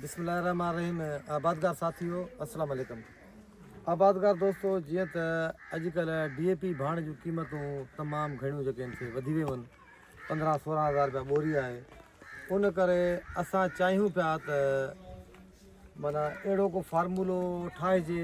بسم الله الرحمٰن الرحيم آبادگار ساٿيو السلام عليڪم آبادگار دوستو جيئن ته اڄڪلهه ڊي اي پي ڀاڻ جون قيمتون تمام گهڻيون جيڪي آهن سي وڌي ويون آهن پندرهن سورهن هزار رپيا ٻوري آهي ان ڪري اسان چاهيون پيا ته مانا اهڙو ڪو فارمولو ٺاهجي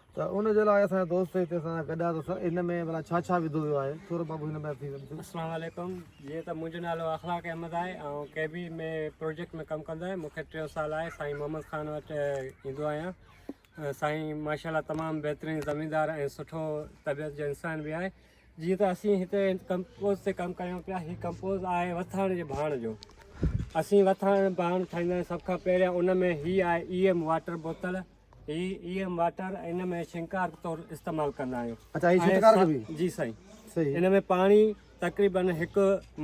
ته ان جي لاء اسان دوست هتي اسان سان گڏ آهي ته ان ۾ ڀلا ڇا ڇا وڌو ويو آهي ٿورو بابو هن ۾ ٿي ويندو اسلام عليڪم جيئن ته منهنجو نالو اخلاق احمد آهي ۽ ڪي بي ۾ پروجيڪٽ ۾ ڪم ڪندو آهي مونکي ٽيو سال آهي سائين محمد خان وٽ ايندو آهيان سائين ماشاءالله تمام بهترين زميندار ۽ سٺو طبيعت جو انسان به آهي جيئن ته اسين هتي ڪمپوز تي ڪم ڪريون پيا هي ڪمپوز آهي وٿاڻ جي ڀاڻ جو اسين وٿاڻ ڀاڻ ٺاهيندا آهيون سڀ کان پهريان ان ۾ هي آهي اي ايم واٽر بوتل هي ايم واٽر ان ۾ شنڪار طور استعمال ڪندا آهيون اچھا هي شنڪار کي به جي سائين صحيح ان ۾ پاڻي تقريبا هڪ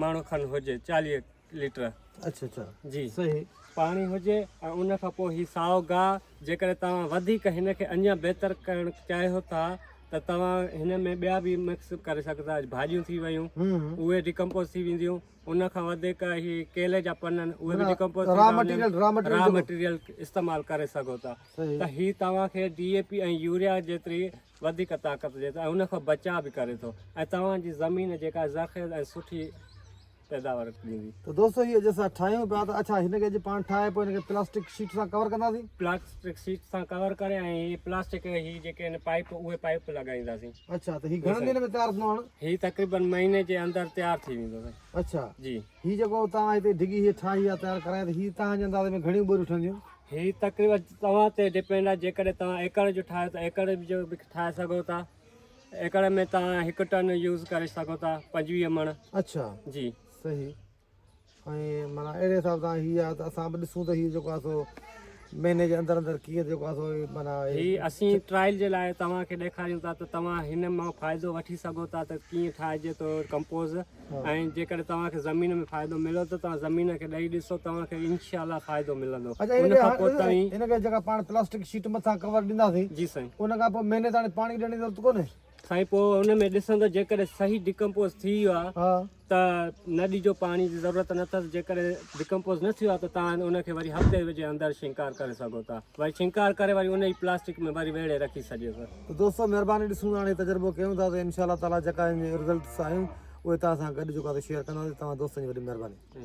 ماڻهو کن هجي 40 ليٽر اچھا اچھا جي صحيح پاڻي هجي ۽ ان کان پوء هي سائو گاهه جيڪڏهن توهان وڌيڪ هن کي اڃا بهتر ڪرڻ چاهيو ٿا ته توهان هن ۾ ٻيا به مڪس ڪري سگهندا آهيو ڀاڄيون ٿي ويون اهي ڊڪمپوز ٿي وينديون ان کان وڌيڪ هي ڪيلي جا پن آهن اهي به ڊيڪمپوز ٿيندا را مٽيريل را مٽيريل استعمال ڪري سگهو ٿا ته هي توهان کي ڊي اي پي ۽ يوريا جيتري وڌيڪ طاقت ڏي ٿو ۽ ان کان بچاء به ڪري ٿو ۽ توهان جي زمين جيڪا زرخيز ۽ سٺي پيداوار ڏيندي ته دوستو هي اڄ اسان ٺاهيون پيا ته اڇا هن کي اڄ پاڻ ٺاهي پوء هن کي پلاسٽڪ شيٽ سان ڪور ڪنداسين پلاسٽڪ شيٽ سان ڪور ڪري ۽ هي پلاسٽڪ هي جيڪي آهن پائپ اهي پائپ لڳائينداسين اڇا ته هي گهڻن ڏينهن ۾ تيار ٿيندو هاڻ هي تقريبن مهيني جي اندر تيار ٿي ويندو سائين اڇا جي هي جيڪو توهان هتي ڊگهي هي ٺاهي يا تيار ڪرائي ته هي توهان جي انداز ۾ گهڻيون ٻوريون ٺهنديون هي تقريبن توهان تي ڊپينڊ آهي جيڪڏهن توهان ايڪڙ جو ٺاهيو ته ايڪڙ جو به ٺاهي سگهو ٿا ايڪڙ ۾ توهان هڪ ٽن يوز ڪري سگهو ٿا پنجويهه مڻ اڇا جي صحيح ۽ معنيٰ اهڙي حساب سان هي آهي ته اسان به ڏسون ته هي جيڪو آهي سو مهيني جي اندر اندر ڪيئن جيڪو آهي سو معنيٰ هي اسين ٽرائل جي لاء توهان کي ڏيکاريون ٿا ته توهان هن مان فائدو وٺي سگهو ٿا ته ڪيئن ٺاهجي ٿو ڪمپوز ۽ جيڪڏهن توهان کي زمين ۾ فائدو مليو ته توهان زمين کي ڏئي ڏسو توهان کي انشاء الله فائدو ملندو ان کان پوء توهين ان کي جيڪا پاڻ پلاسٽڪ شيٽ مٿان ڪور ڏينداسين جي سائين ان کان پوء مهيني تائڻي پاڻي ڏيڻ جي ضرورت ڪونهي سائين پوء ان ۾ ڏسندو جيڪڏهن صحيح ڊڪمپوز ٿي ويو آهي ها ته نه ڏجو پاڻي جي ضرورت نه اٿس جيڪڏهن ڊڪمپوز نه ٿيو آهي ته تان ان کي وري هفتي جي اندر شنڪار ڪري سگهو ٿا وري شنڪار ڪري وري ان ئي پلاسٽڪ ۾ وري ويڙهي رکي ڇڏيو ٿا. ته دوستو مهرباني ڏسون ٿا هاڻي تجربو ڪيون ٿا ته انشاء الله تعالي جيڪا ان جي رزلٽس آيون اهي توهان سان گڏ جيڪو آهي سو شيئر ڪنداسين توهان دوستن جي وڏي مهرباني.